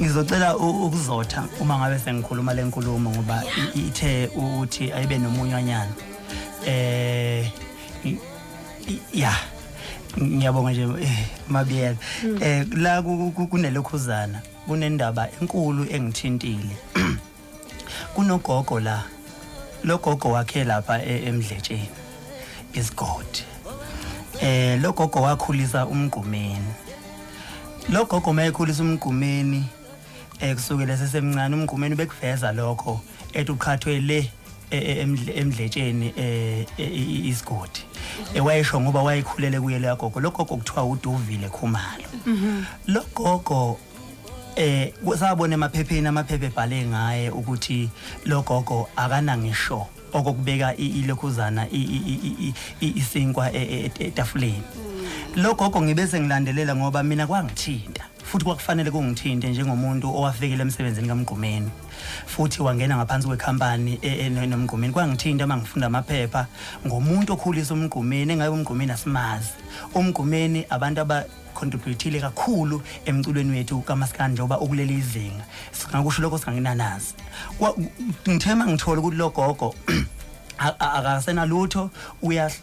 ngizocela ukuzotha uma ngabe sengikhuluma le nkulumo ngoba ithe ukuthi ayibe nomunywanyana eh ya ngiyabonga nje eh, mabiyela hmm. eh la kunelokhuzana kunendaba enkulu engithintile kunogogo la logogo wakhe lapha e, emdletsheni is god eh logogo wakhulisa umgqumeni logogo mayekhulisa umgqumeni eh kusukela sesemncane umgqumeni bekuveza lokho ethi uqhathwe le e, e, emdletsheni eh isigodi ewayesho ngoba wayekhulele kuye leyagogo logogo kuthiwa uduvile khumalo mhm. logogo eh kusabona emaphepheni amaphephe ebhale ngaye ukuthi logogo akanangisho okokubeka ilokhuzana isinkwa e, e, e, etafuleni logogo ngibese ngilandelela ngoba mina kwangithinta futhi kwakufanele kungithinte njengomuntu owafikele emsebenzini kamgqumeni futhi wangena ngaphansi kwekhampani e, e, nomgqumeni kwangithinta uma ngifunda amaphepha ngomuntu okhulisa umgqumeni engabe umgqumeni asimazi umgqumeni abantu contributile kakhulu emculweni wethu kamaskandi njengoba ukuleli izinga singakusho lokho singanginanazi ngithema ngithola ukuthi lo gogo akasenalutho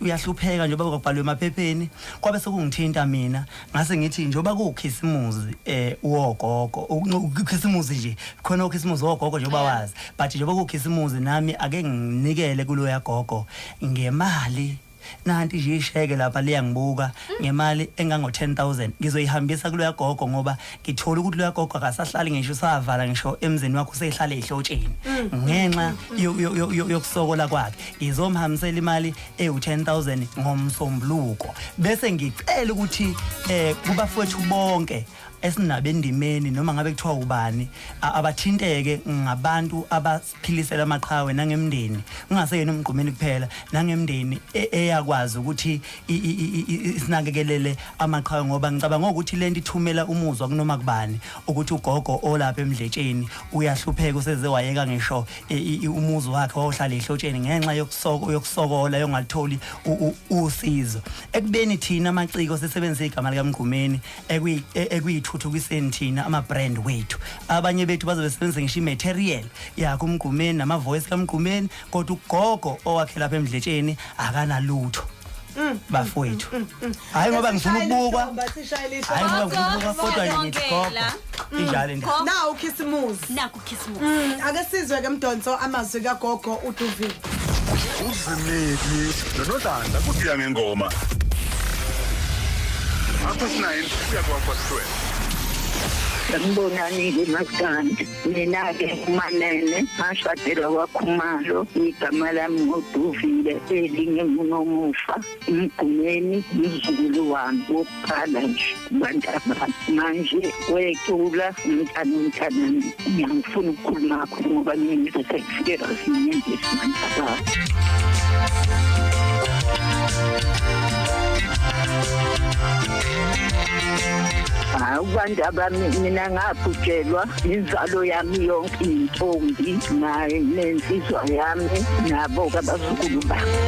uyahlupheka njengoba kwabhalwe emaphepheni kwabe sekungithinta mina ngase ngithi njengoba kuwukhisimuzi eh wogogo ukukhisimuzi nje khona ukhisimuzi wogogo njengoba wazi but njengoba kuwukhisimuzi nami ake nginikele kuloya gogo ngemali nanti nje isheke lapha liyangibuka ngemali engango 10000 ngizoyihambisa kuloya gogo ngoba ngithola ukuthi loya gogo akasahlali ngisho usavala ngisho emzini wakho usehlale ehlotsheni ngenxa yo- yo- yo- yo- yokusokola kwakhe ngizomhambisela imali ewu 10000 ngomsombuluko bese ngicela ukuthi eh kubafowethu bonke esinabo endimeni noma ngabe kuthiwa ubani a- abathinteke ngabantu abas- philise lamaqhawe nangemndeni kungaseyena umgqumeni kuphela nangemndeni e, eyakwazi ukuthi isinakekelele amaqhawe ngoba ngicabanga ukuthi lento ithumela umuzwa kunoma kubani ukuthi ugogo olapha emdletsheni uyahlupheka useze wayeka ngisho e, umuzi wakhe wawuhlala ehlotsheni ngenxa yokusoko yokusokola yongalitholi usizo ekubeni thina amaciko sisebenzisa igama likamgqumeni ekuyi- e- ekuyithuthukiseni thina ama-brand wethu abanye bethu baze besebenzise ngisho i-material yakho umgqumeni nama-voice kamgqumeni kodwa ugogo owakhe lapha emdletsheni akanalutho bafowethu hhayi ngoba ngifuna ukubukwa hhayi ngoba ngifuna ukubukwa kodwa yini gogo injalo into nawu khisimuzi Nakhu Khisimusi. Mm, ake sizwe ke mdonso amazwi kagogo uDuvile. Uzimili nonodlanda kusiya ngengoma. Apho sinayo siya kwakho sihlwele. Sanibonani ngimaskandi mina-ke umanene ngashadela kwakhumalo igama lami ngoduvile elingemunomufa ngigcineni ngizukulu wami wokuqala nje bantabami manje wecula mntana umntanami ngiyangifuna ukukhuluma akho ngoba ngiyize sekufike rasinyembesi bantabami hayi kubantu abami mina ngabhujelwa inzalo yami yonke intombi naye nensizwa yami nabo kabazukulu bami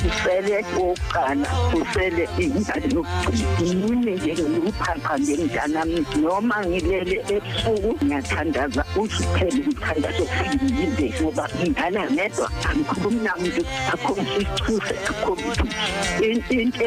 usele okokuqala usele ingane yokugcina nje ngikuphapha ngemntanami noma ngilele ebusuku ngiyathandaza uziphele umthandazo ofike ngoba ingane ngedwa angikhulumi namuntu akho ngisithuse akho into